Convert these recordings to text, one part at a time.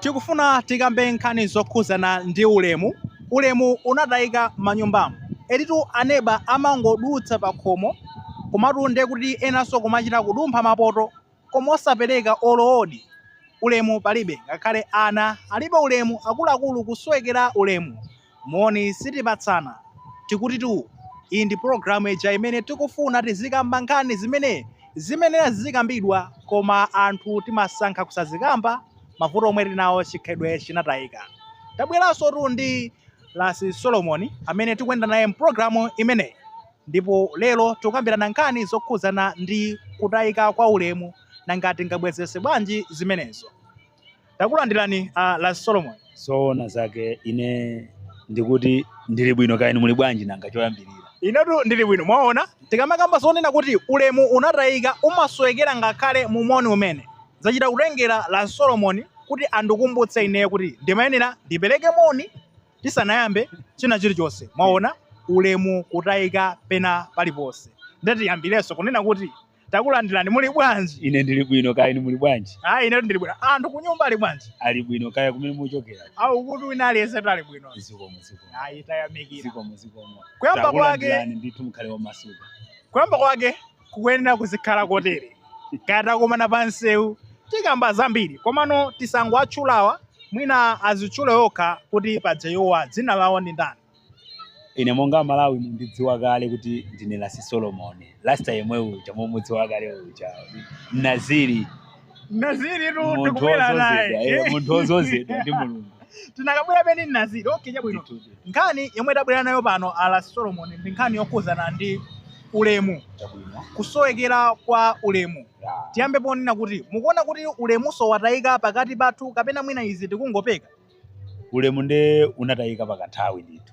Tikufuna tikambe nkhani zokhudzana ndi ulemu. Ulemu unatayika m'manyumbamo. Editu aneba amangodutsa pakhomo komatu nde kuti enanso kumachita kudumpha mapoto koma osapereka olo odi. Ulemu palibe ngakhale ana alibe ulemu akuluakulu kusowekera ulemu. Moni sitipatsana, tikutitu. Iyi ndi program ija imene tikufuna tizikamba nkhani zimene zimayenera zizikambidwa koma anthu timasankha kusazikamba, mavuto omwe tili nawo chikhalidwe chinatayika. Tabweransotu ndi Lasi Solomon amene tikuyenda naye m'program imeneyi ndipo lero tikukambirana nkhani zokhudzana ndi kutayika kwa ulemu nanga tingabwezeretse bwanji zimenezo. Takulandirani a Lasi Solomon. zoona zake ine ndikuti ndili bwino kaya inu muli bwanji nanga choyambirira Inetu ndili bwino mwaona tikamakamba zonena kuti ulemu unatayika umasowekera ngakhale mumoni umene zachita kutengera a Lasi Solomon kuti andikumbutse ineyo kuti ndimayenera ndipereke moni tisanayambe china chilichonse mwaona ulemu kutayika pena paliponse ndati tiyambirenso kunena kuti Takulandirani, muli bwanji? Ine ndili bwino kaya inu muli bwanji? Ayi inetu ndili bwino. Anthu kunyumba ali bwanji? Ali bwino kaya kumene muchokera. Ayi uku wina aliyensetu ali bwino. Zikomo zikomo. Ayi tayamikira. Zikomo zikomo. Kuyamba kwake Takulandirani ndithu mukhale omasuka. kuyamba kwake kukuyenera kuzikhala kotere. Kaya takumana pa msewu tikamba zambiri. Komano tisangowatchulawa mwina azitchule okha kuti paja iwowa dzina lawo ndi ndani. Ine monga Amalawi mundidziwa kale kuti ndine Lasi Solomon. Rasta yemwe uja mumudziwa kale uja. Mnaziri. Naziri tu Munthu tikubwera naye. odzozedwa, eh, munthu odzozedwa ndi Mulungu. Tinakabwera peni Mnaziri. Okay, chabwino. Nkhani yomwe tabwera nayo pano a Lasi Solomon ndi nkhani yokhudzana ndi ulemu, Chabwino. kusowekera kwa ulemu. Ya. Tiyambe ponena kuti mukuona kuti ulemu zoona watayika pakati pathu kapena mwina izi tikungopeka. ulemu nde unatayika pakanthawi ndithu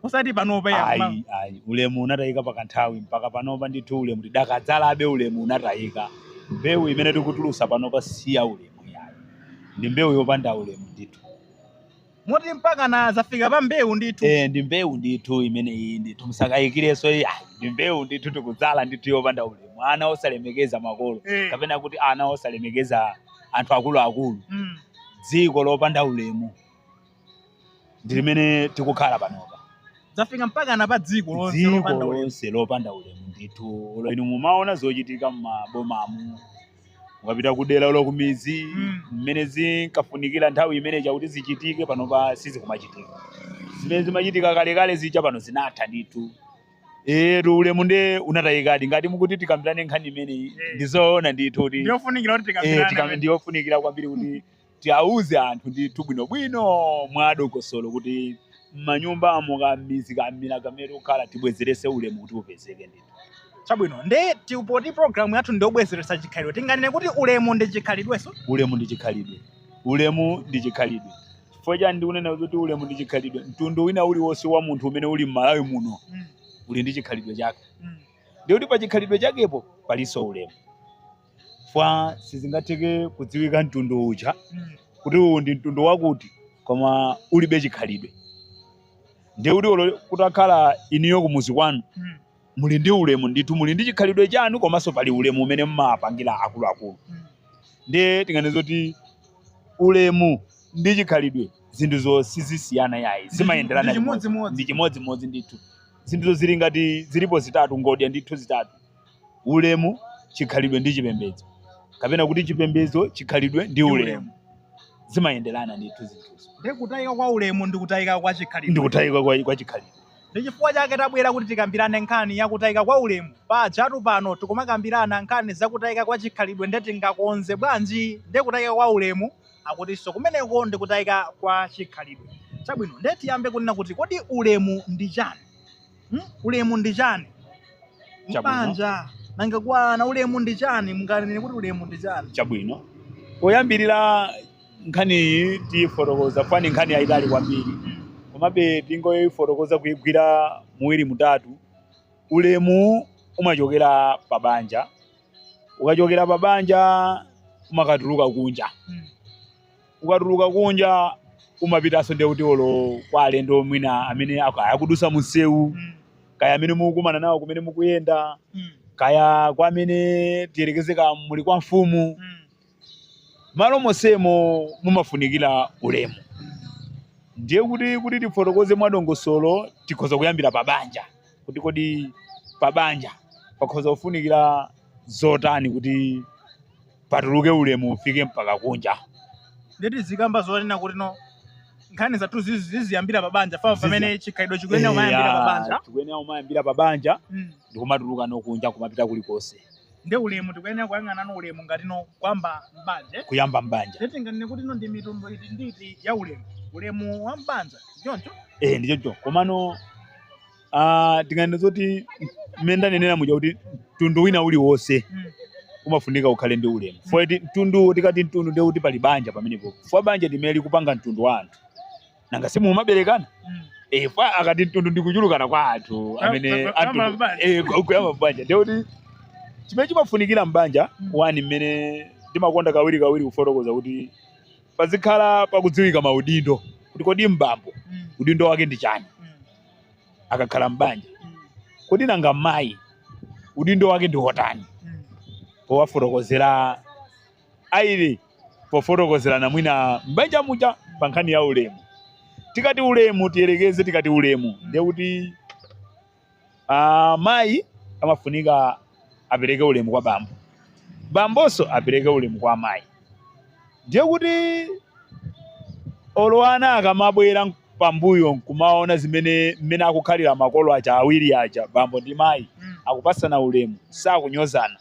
osati panopa ya ma- ayi ayi ulemu unatayika pakanthawi mpaka panopa ndithu ulemu tikadadzalabe ulemu unatayika mbewu imene tikutulusa panopa si ya ulemu yayi ndi mbewu yopanda ulemu ndithu moti mpaka na zafika pa mbewu ndithu Eh, ndi mbewu ndithu imene iyi ndithu musakayikirenso ayi ayi ndi mbewu ndithu tikudzala ndithu yopanda ulemu ana osalemekeza makolo Eh. kapena kuti ana osalemekeza anthu akuluakulu Mm. dziko lopanda ulemu ndi limene tikukhala panopa zafika mpaka na pa dziko lonse dziko lopanda ulemu. lonse lopanda ulemu ndithu Olo inu mumaona zochitika m'mabomamu ukapita kudera olo kumidzi Mm. mmene zinkafunikira nthawi imene ija kuti zichitike panopa sizikumachitika zimene zimachitika kalekale zija pano zinatha ndithu Eyetu ulemu nde unatayikadi ngati mukuti tikambirane nkhani imeneyi Eh. ndizoona ndithu kuti ndiyofunikira kuti eh, tikambirane tikam- pamene. ndiyofunikira kwambiri kuti tiauze anthu ndithu bwinobwino mwa dongosolo kuti m'manyumbamo kam'midzi kamudzi kamene tikukhala tibwezerese ulemu kuti upezeke ndithu chabwino nde ti- poti programu yathu ndiyobwezeretsa chikhalidwe tinganene kuti ulemu ndi chikhalidwenso ulemu ndi chikhalidwe ulemu ndi chikhalidwe Chifukwa chani ndikunena kuti ulemu ndi chikhalidwe? Mtundu wina uliwonse wa munthu umene uli m'Malawi muno mm. uli ndi chikhalidwe chake mm. ndikuti pa chikhalidwe chakepo palinso ulemu fwa sizingatheke kudziwika mtundu uja mm. kuti uwu ndi mtundu wakuti koma ulibe chikhalidwe ndikuti olo kutakhala inuyo kumuzi kwanu mm. muli ndi ulemu ndithu muli ndi chikhalidwe chanu komanso pali ulemu umene mmapangira akuluakulu ndiye tinganene zoti ulemu ndi chikhalidwe zinthuzo sizisiyana yayi zimayenderana ndi chimodzimodzi. ndi chimodzimodzi ndithu zinthuzo zili ngati zilipo zitatu ngodya ndithu zitatu ulemu chikhalidwe ndi chipembedzo kapena kuti chipembedzo chikhalidwe ndi ulemu zimayenderana ndithu zinthuzo Ndiye kutayika kwa ulemu ndi kutayika kwa chikhalidwe. ndi kutayika kwa, kwa chikhalidwe Ndi chifukwa chake tabwera kuti tikambirane nkhani ya kutayika kwa ulemu. Pajatu pano tikumakambirana nkhani za kutayika kwa chikhalidwe nde tingakonze bwanji ndi kutayika kwa ulemu akutinso kumeneko ndi kutayika kwa chikhalidwe. Chabwino nde tiyambe kunena kuti kodi ulemu ndi chani? Hmm? Ulemu ndi chani? Mbanja nanga kwa ana ulemu ndi chani? Munganene kuti ulemu ndi chani? Chabwino poyambirira Nkhaniyi tiyifotokoza fa ndi nkhani yayitali kwambiri komabe tingoyifotokoza kuyigwira muwiri mutatu. Ulemu umachokera pa banja, ukachokera pa banja umakatuluka kunja, ukatuluka kunja umapitanso ndiye kuti olo kwa alendo mwina amene ak- akudusa munsewu kaya amene mukukumana nawo kumene mukuyenda kaya kwa amene tiyerekeze kaya muli kwa mfumu Malo monsemo mumafunikira ulemu. Ndiye kuti kuti tifotokoze mwadongosolo tikhoza kuyambira pa banja kuti kodi pa banja pakhoza kufunikira zotani kuti patuluke ulemu ufike mpaka kunja. Nde tizikamba zonena kutino nkhani zathu ziziyambira pa banja fa pamene chikhalidwe chikuyenera kumayambira pa banja. Chikuyenera kumayambira pa banja ndikumatulukano kunja kumapita kulikonse. nde ulemu tikuyenera kuyang'anano ulemu ngatino kuyamba m'banja eh? kuyamba m'banja nde tinganene kutino ndi mitundu iti ndi iti ya ulemu ulemu wa m'banja choncho eh ndi choncho komano ah tinganene zoti mmene ndanenera muja kuti mtundu wina uliwonse Mm. umafunika ukhale ndi ulemu fo iti mtundu tikati mtundu nde kuti pali banja pamenepo fo banja ndi limene likupanga mtundu wa anthu nanga si mumaberekana mm. eh fo akati mtundu ndikuchulukana kwa anthu amene anthu eh kuyamba mbanja ndiye kuti chimene chimafunikira mbanja mm. wani mmene ndimakonda kawiri kawiri kufotokoza kuti pazikhala pakudziwika maudindo kuti kodi mbambo mm. udindo wake ndi chani mm. akakhala mbanja mm. kodi nanga mayi udindo wake ndi wotani mm. powafotokozera aili pofotokozerana mwina m'banja muja pa nkhani ya ulemu. Tikati ulemu tiyerekeze, tikati ulemu ndiye kuti ah, mayi amafunika apereke ulemu kwa bambo, bambonso apereke ulemu kwa mayi. Ndiye kuti olo ana akamabwera pambuyo kumaona zimene mmene akukhalira makolo aja awiri aja bambo ndi mayi Mm. akupasana ulemu sakunyozana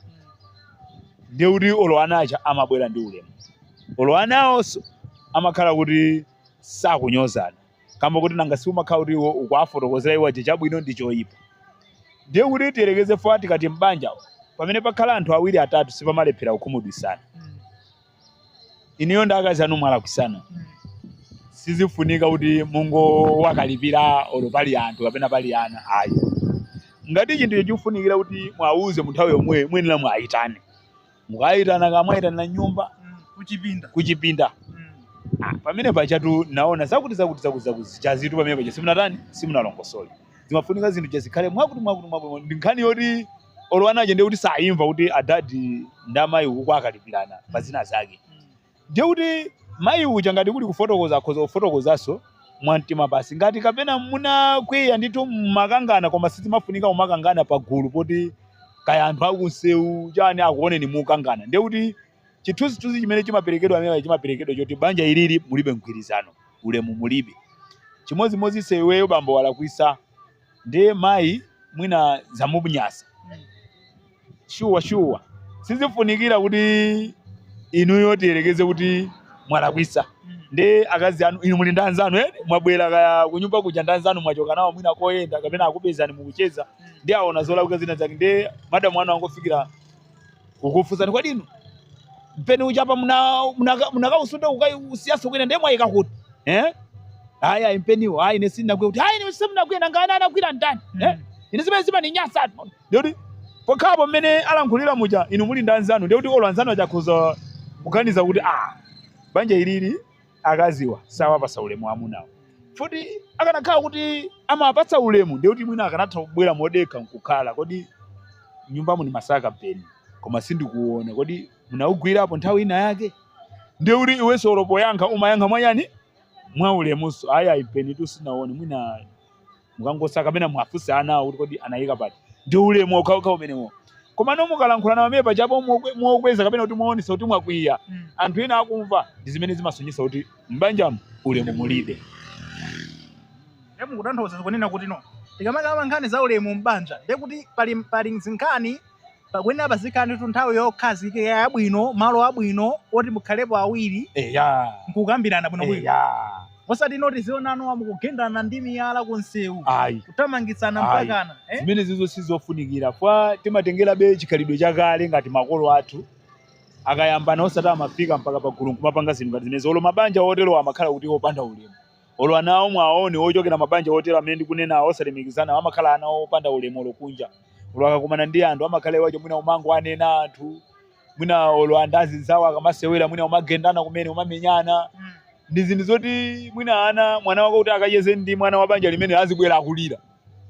ndiye kuti olo ana aja amabwera ndi ulemu olo ana awonso amakhala kuti sakunyozana kamba kuti nanga si umakhala kuti iwo ukuwafotokozera iwo aja chabwino ndi choyipa ndiye kuti tiyerekeze fo tikati m'banja pamene pakhala anthu awiri atatu sipamalephera kukhumudwisana inuyo ndi akazi anu mwalakwisana sizifunika kuti mungowakalipira olo pali anthu kapena pali ana ayi ngati chinthu chikufunikira kuti mwauze mu nthawi yomweyo mwayenera mwayitane mukayitana kumwayitanira mnyumba kuchipinda kuchipinda Ah, pamene pajatu naona zakuti zakuti zakuti zakuti sizitu pamene paja simunatani simunalongosole zimafunika zinthu zija zikhale mwakuti mwakuti mwakuti ndi nkhani yoti olo anaje ndiye kuti sayimva kuti adadi ndi amayi uku akalipirana pa zina zake ndiye kuti mayi uja ngati kuli kufotokoza akhoza kufotokozanso mwamtima pansi ngati kapena munakwiya ndithu mmakangana koma sizimafunika kumakangana pa gulu poti kaya anthu akunsewu chani akuoneni mukukangana ndiye kuti chithunzithunzi chimene chimaperekedwa pamene chimaperekedwa choti banja ilili mulibe mgwirizano ulemu mulibe chimodzimodzinso iweyo bambo walakwisa ndiye mayi mwina zamunyasa shuwa shuwa sizifunikira kuti inuyo tiyerekeze kuti mwalakwisa ndi akazi anu inu muli ndi anzanu eni mwabwera kaya kunyumba kuja ndi anzanu mwachoka nawo mwina koyenda kapena akupezani mukucheza ndiye aona zolakwika zina zake ndiye madamu anu angofikira kukufunsani kodi inu mpeni uja apa muna- munaka- munakausuntha kukausiyanso kwina ndiye mwayika kuti eh? ayi ayi mpeniwo ayi ine sindinagwira kuti ayi inu simunagwira nanga anagwira ndani eh? ine zimene zimaninyasatu ndiye kuti pokhapo mmene alankhulira muja inu muli ndi anzanu ndiye kuti olo anzanu aja akhoza kuganiza kuti ah banja ilili akaziwa sawapasa ulemu amunawo futi akanakhala kuti amawapatsa ulemu ndiye kuti mwina akanatha kubwera modekha nkukhala kodi nyumba muni masaka mpeni koma sindikuona kodi munawugwirapo nthawi ina yake ndiye kuti iwenso olopoyankha umayankha mwachani mwa ulemunso ayi ayi mpenitu sinaone mwina mukangosaka kapena muwafunse anawo kuti kodi anayika pati ndi ulemu okhaokha umenewo komano mukalankhula nawo amene pajapo mokwe- mokweza kapena kuti moonesa kuti mwakwiya Mm. anthu ena akumva ndi zimene zimasonyesa kuti m'banjamo ulemu mulibe Ndiye mukutanthauza kunena kuti no. Tikamakamba nkhani za ulemu m'banja, ndiye kuti pali zinkhani pakuyenera pazikhalanitu nthawi yokhazikika yabwino malo abwino oti mukhalepo awiri eya nkukambirana bwinobwino eya osati no tiziona mukugendana ndi miyala ku msewu ayi kuthamangitsana Ayi. mpakana eh? zimenezizo sizofunikira chifukwa timatengerabe chikhalidwe chakale ngati makolo athu akayambana osati amafika mpaka pagulu nkumapanga zinthu ngati zimenezo olo mabanja oterowa amakhala kuti opanda ulemu Olo anawo muwaone ochokera mabanja otero amene ndikunenawa osalemekezana amakhala ana opanda ulemu olo kunja olo akakumana ndi anthu amakhala iwo aja mwina umangowanena anthu mwina olo anthu azinzawo akamasewera mwina umagendana kumene umamenyana mm. ndi zinthu zoti mwina ana mwana wako kuti akacheze ndi mwana wa banja limene azibwera akulira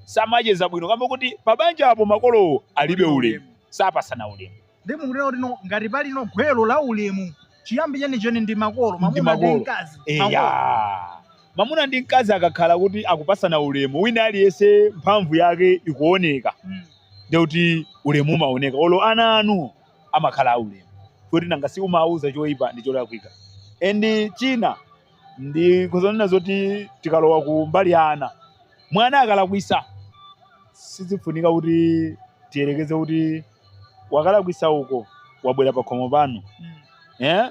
samacheza bwino kamba kuti pabanja apo makolowo alibe ulemu sapasana ulemu Ndiye mukunena kuti no ngati pali no gwero la ulemu chiyambi chenicheni ndi makolo Ndi mamuna ndi makolo. mkazi. Makolo. eya mamuna ndi mkazi akakhala kuti akupasana ulemu wina aliyense mphamvu yake ikuoneka Mm. ndiye kuti ulemu umaoneka olo ana anu amakhala aulemu kuti nanga si umawuza choyipa ndi cholakwika endi china ndikuzanena zoti tikalowa ku mbali ya ana mwana akalakwisa sizifunika kuti tiyerekeze kuti wakalakwisa uko wabwera pakhomo panu eh?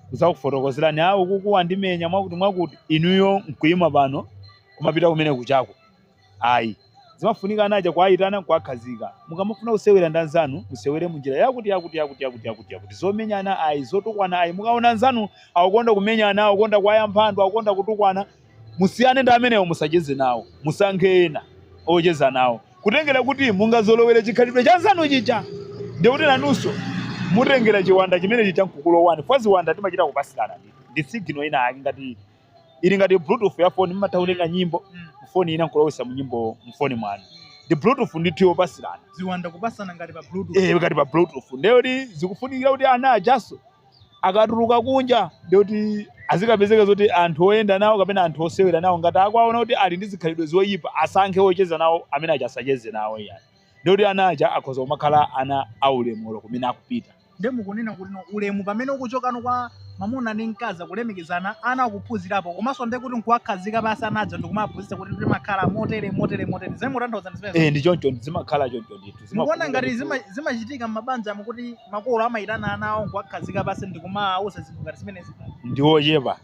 kuzakufotokozerani a ukoko wandimenya mwakuti mwakuti inuyo nkuyima pano kumapita kumene kuchako ayi zimafunika anaja kuwayitana kuwakhazika mukamafuna kusewera ndi anzanu musewere munjira yakuti yakuti yakuti yakuti yakuti yakuti zomenyana ayi zotukwana ayi mukaona anzanu akukonda kumenyana akukonda kuwayamba anthu akukonda kutukwana Musiyane ndi amenewo, musacheze nawo. Musankhe ena ocheza nawo. Kutengera kuti mungazolowere chikhalidwe cha anzanu chija, ndiye kuti nanunso mutengera chiwanda chimene chija n'kukulowani, chifukwa ziwanda timachita kupatsirana ndithu. Ndi signal inayake ngati, ili ngati bluetooth ya foni, mumatha kutenga nyimbo mufoni ina n'kulowetsa munyimbo mufoni mwanu. Ndi bluetooth ndithu yopatsirana. Ziwanda kupatsana ngati pa bluetooth. Ee, ngati pa bluetooth. Ndiye kuti zikufunikira kuti ana ajanso Akatuluka kunja ndiye kuti azikapezeka zoti anthu oyenda nawo kapena anthu osewera nawo ngati akuwaona kuti ali ndi zikhalidwe zoyipa asankhe ocheza nawo amene aja asacheze nawo iyayi. Ndiye kuti ana aja akhoza kumakhala ana aulemu olo kumene akupita. Ndiye mukunena kuti no ulemu pamene ukuchokano kwa mwamuna ndi mkazi kulemekezana ana akuphunzirapo komanso ndiye kuti nkuwakhazika pansi ana aja ndikumawaphunzitsa kuti timakhala motere motere motere. Zimene mukutanthauza ndi zimenezo? Eh, ndi choncho zimakhala choncho ndithu. mukuona ngati zima- zimachitika m'mabanja mukuti makolo amayitana ana awo nkuwakhazika pansi ndi kumawauza zinthu ngati zimenezi ndi ochepa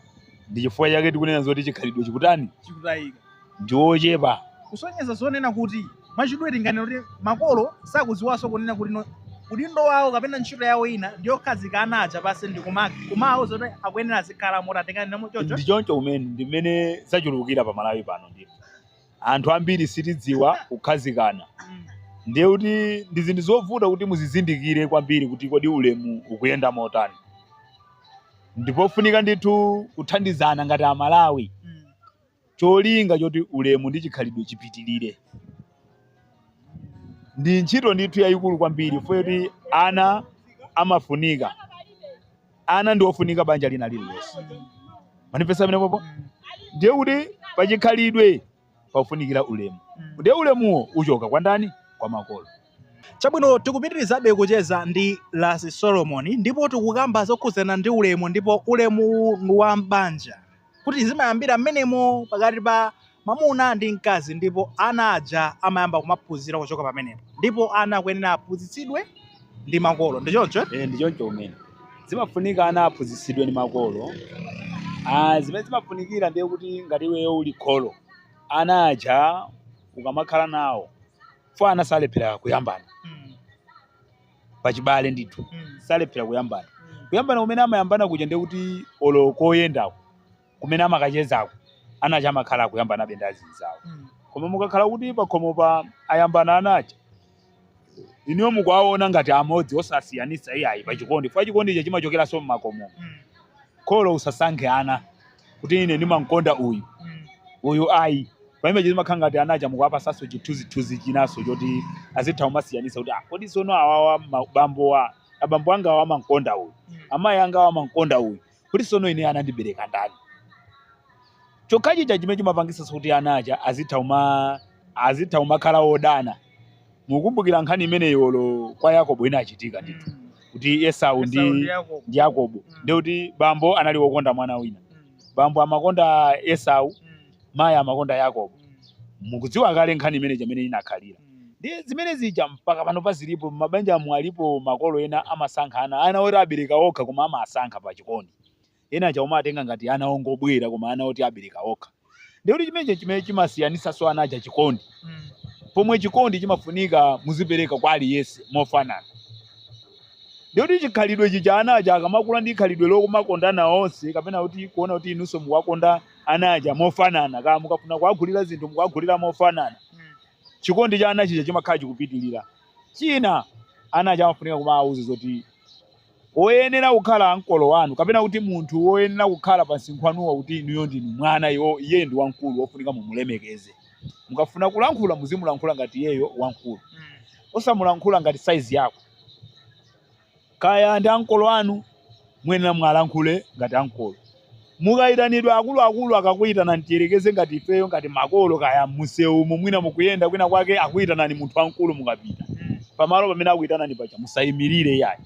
ndi chifukwa chake tikunena zoti chikhalidwe chikutani chikutayika ndi ochepa kusonyeza zonena kuti mwachidule tinganena kuti makolo sakudziwanso kunena kuti no- udindo wawo kapena ntchito yawo ina ndi yokhazika ana aja pansi ndi kuma- kumawauza kuti akuyenera azikhala moti atengeremo choncho ndi choncho kumene ndi mmene zachulukira pa malawi pano ndipo Anthu ambiri sitidziwa kukhazikana ndiye kuti ndi zinthu zovuta kuti muzizindikire kwambiri kuti kodi ulemu ukuyenda motani. Ndipofunika ndithu kuthandizana ngati Amalawi cholinga choti ulemu ndi chikhalidwe chipitirire. Ndi ntchito ndithu yayikulu kwambiri foti ana amafunika. ana ndi ofunika banja lina lililonse manifesa amene popo ndiye kuti pachikhalidwe pakufunikira ulemu ndiye ulemuwo uchoka kwa ndani kwa makolo chabwino tikupitirizabe kucheza ndi lasi solomoni ndipo tikukamba zokhudzana ndi ulemu ndipo ulemuwu ndi wa m'banja kuti zimayambira mmenemo pakati pa mwamuna ndi mkazi ndipo ana aja amayamba kumaphunzira kuchoka pamenepo ndipo ana akuyenera aphunzitsidwe ndi makolo ndi choncho eh? Eh, ndi choncho kumene zimafunika ana aphunzitsidwe ndi makolo ah, zimene zimafunikira ndiye kuti ngati iweyo uli kholo ana aja ukamakhala nawo fo ana salephera kuyambana Mm. pachibale ndithu Mm. salephera kuyambana Mm. kuyambana kumene amayambana kuja ndiye kuti olo koyendako kumene amakachezako ana aja amakhala akuyambanabe ndi azinzawo Mm. koma mukakhala kuti pakhomopa ayambana ana aja inuyo mukuwaona ngati amodzi osasiyanitsa iyayi pachikondi chifukwa chikondicho chimachokeranso mmakomo Mm. kholo usasankhe ana kuti ine ndimamkonda uyu Mm. uyu ayi pamene chimakhala ngati ana aja mukuwapasanso chithunzithunzi chinanso choti azitha kumasiyanisa kuti ah, kodi sono awawa mabambowa abambo anga awa amamkonda uyu Mm. amayi anga awa amamkonda uyu kuti sono ine anandibereka ndani chokhachija chimene chimapangisanso kuti ana aja azitha uma azitha umakhala odana mukumbukira nkhani imeneyi olo kwa yakobo inachitika ndithu Mm. kuti esau ndi Esau ndi Yakobo. ndi yakobo Mm. ndi kuti bambo anali wokonda mwana wina Mm. bambo amakonda esau Mm. mayi amakonda yakobo Mm. mukudziwa kale nkhani imene ija mmene inakhalira Mm. ndiye zimene zija mpaka panopa zilipo mabanja amu alipo makolo ena amasankha ana ana oti abereka okha koma amasankha pa chikondi Ena aja amawatenga ngati ana ongobwera koma ana oti abereka okha. Ndiye kuti chimenecho chimene chimasiyanitsanso ana aja chikondi. Mm. Pomwe chikondi chimafunika muzipereka kwa aliyense mofanana. Ndiye kuti chikhalidwe chija ana aja akamakula ndi khalidwe lokumakondana onse kapena kuti kuona kuti inunso mukuwakonda ana aja mofanana kaya mukafuna kuwagulira zinthu mukuwagulira mofanana Mm. chikondi cha ana chija chimakhala chikupitirira china ana aja amafunika kumawauza zoti Woyenera kukhala ankolo wanu, kapena kuti munthu woyenera kukhala pa msinkhu wanuwo kuti inuyo ndinu mwana, iwo, iyeyo ndi wamkulu wofunika mumulemekeze. Mukafuna kulankhula muzimulankhula ngati iyeyo wamkulu. Osamulankhula ngati size yako. Kaya ndi ankolo anu muyenera muwalankhule ngati ankolo. Mukayitanidwa ndi akuluakulu akakuyitanani tiyerekeze ngati ifeyo ngati makolo kaya mumsewumu mwina mukuyenda kwina kwake akuyitanani munthu wamkulu mukapita pamalo pamene akuyitanani paja musayimilire iyayi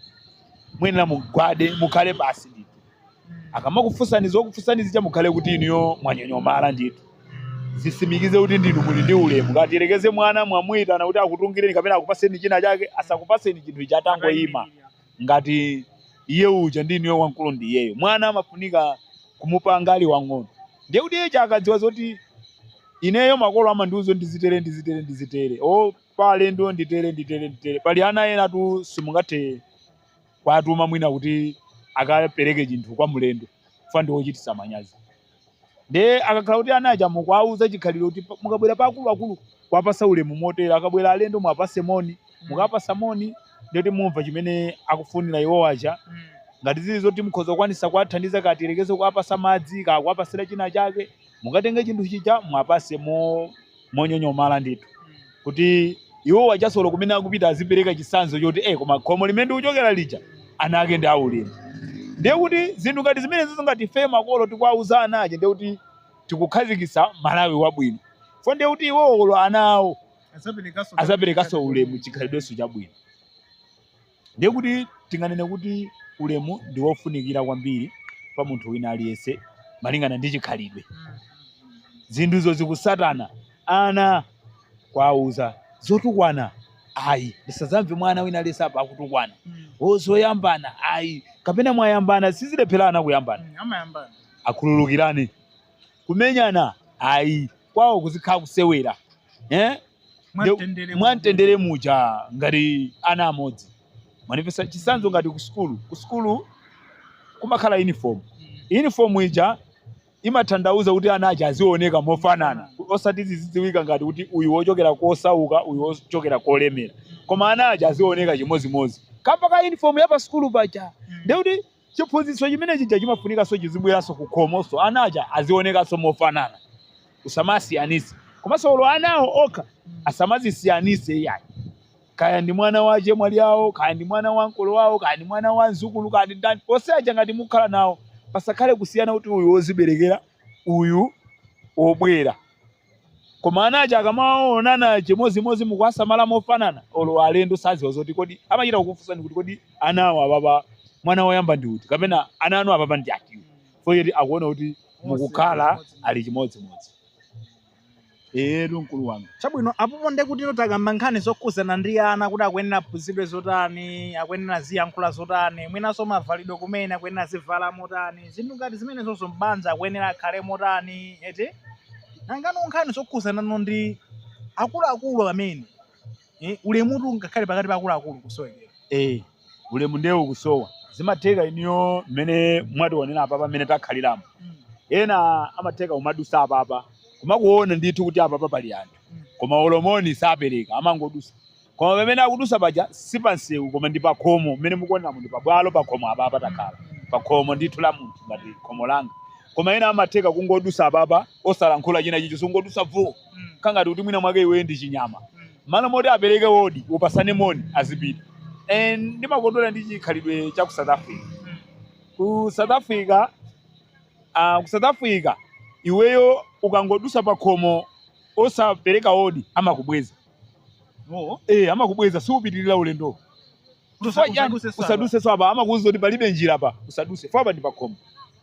muyenera mugwade mukhale pansi ndithu akamakufunsani zokufunsani zija mukhale kuti inuyo mwanyonyomala ndithu zisimikize kuti ndinu muli ndi ulemu ngati tiyerekeze mwana mwamuyitana kuti akutungireni kapena akupaseni china chake asakupaseni chinthu chija atangoyima ngati iye uja ndi inuyo wamkulu ndi iyeyo mwana amafunika kumupanga ali wang'ono ndiye kuti iye uja akadziwa zoti ineyo makolo amandiuza kuti ndizitere ndizitere ndizitere o pa alendo nditere nditere nditere pali ana enatu simungathe kuwatuma mwina kuti akapereke chinthu kwa mlendo fa ndi ochititsa manyazi Ndiye akakhala kuti ana aja mukuwauza chikhalidwe kuti pa- mukabwera pa akuluakulu kuwapasa ulemu motere, akabwera alendo muwapase moni, mukapasa moni ndiye kuti mumva chimene akufunira iwo aja. Ngati zili zoti mukhoza kukwanisa kuwathandiza kaya tiyerekeze kuwapasa madzi kaya kuwapasira china chake, mukatenge chinthu chija muwapase mo monyonyomala ndithu kuti iwo aja olo kumene akupita azipereka chisanzo choti eh koma khomo limene ndikuchokera lija ana ake ndi aulemu ndiye kuti zinthu ngati zimenezizi ngati ife makolo tikuwauza ana aja ndiye kuti tikukhazikitsa malawi wabwino fo ndiye kuti iwowo olo ana awo azaperekanso ulemu chikhalidwenso chabwino Ndiye kuti tinganene kuti ulemu ndi wofunikira kwambiri pa munthu wina aliyense malingana ndi chikhalidwe. Zinthuzo zikusatana ana kuwauza zotukwana ayi ndisadzamve mwana wina aliyense apa akutukwana o zoyambana ayi kapena mwayambana sizilephera ana kuyambana khululukiranani kumenyana ayi kwawo kuzikhala kusewera eh? Mwamtendere mwamtendere muja ngati ana amodzi mwanditsa chisanzo ngati ku sukulu ku sukulu kumakhala uniform uniform ija imathandauza kuti ana aja azioneka mofanana osati zizidziwika ngati kuti uyu wochokera kosauka uyu wochokera kolemera koma ana aja azioneka chimodzimodzi kamba ka uniform ya pa sukulu paja ndiye kuti Chiphunzitso chimene chija chimafunikanso chizibweranso ku khomonso, ana aja azionekanso mofanana, kusamasiyanitse. Komanso olo anawo okha asamazisiyanitse iyayi, kaya ndi mwana wa achemwali awo, kaya ndi mwana wa ankolo wawo, kaya ndi mwana wa mzukulu, kaya ndi ndani, onse aja ngati mukukhala nawo, pasakhale kusiyana kuti uyu woziberekera, uyu wobwera. Koma ana aja akamaonana chimodzimodzi mukuwasamala mofanana, olo alendo sadziwa zoti kodi amachita kukufunsani kuti kodi ana awo apapa mwana woyamba ndi uti kapena ana anu apapa ndi atiwo chifukwa choti akuona kuti mukakhala ali chimodzimodzi. Eyetu mkulu wanga. Chabwino, apopo ndiye kuti takamba nkhani zokhudzana ndi ana kuti akuyenera aphunzitsidwe zotani, akuyenera aziyankhula zotani, mwinanso mavalidwe kumene akuyenera azivala motani, zinthu ngati zimenezozo m'banja akuyenera akhale motani, eti? nangano nkhani zokhuzanano ndi akuluakulu amene eh, ulemutu ngakhale pakati pa akuluakulu kusowekera eh ulemu ndiye ukusowa zimatheka iniyo mmene mwatiwonera apapa mmene takhaliramo ena amatheka kumadusa apapa kumakuona ndithu kuti apapa pali anthu koma olo moni sapereka amangodusa Koma pamene akudutsa paja si pa msewu koma ndi pakhomo mmene mukuoneramu ndi pabwalo pakhomo apapa takhala pakhomo ndithu la munthu ngati khomo langa koma ena amatheka kungodutsa apapa osalankhula china chilichonse kungodutsa vuu kangati kuti mwina mwake iweyo ndi chinyama malo moti apereke odi upasane moni azipita and ndimakondwera ndi chikhalidwe cha ku South Africa ku South Africa uh, ku South Africa iweyo ukangodutsa pakhomo osapereka odi amakubweza Oh. Eh, amakubweza siupitirira ulendo. Chifukwa chani Usaduse sana. usaduseso apa amakuuza kuti palibe njira apa usaduse chifukwa apa ndi pakhomo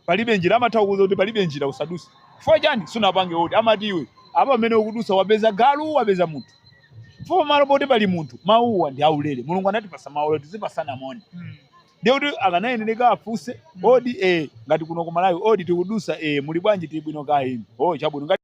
palibe njira amatha kukuuza kuti palibe njira usaduse chifukwa chani sunapange odi amati iwe apa pamene ukudusa wapeza galu wapeza munthu chifukwa malo poti pali munthu mawuwa ndi aulere mulungu anatipasa mawu aulere tizipasana moni Mm. ndiye kuti akanayenera afunse Mm. odi eh, ngati kuno ku malawi odi tikudusa eh, muli bwanji tili bwino kaya inu oh, chabwino ngati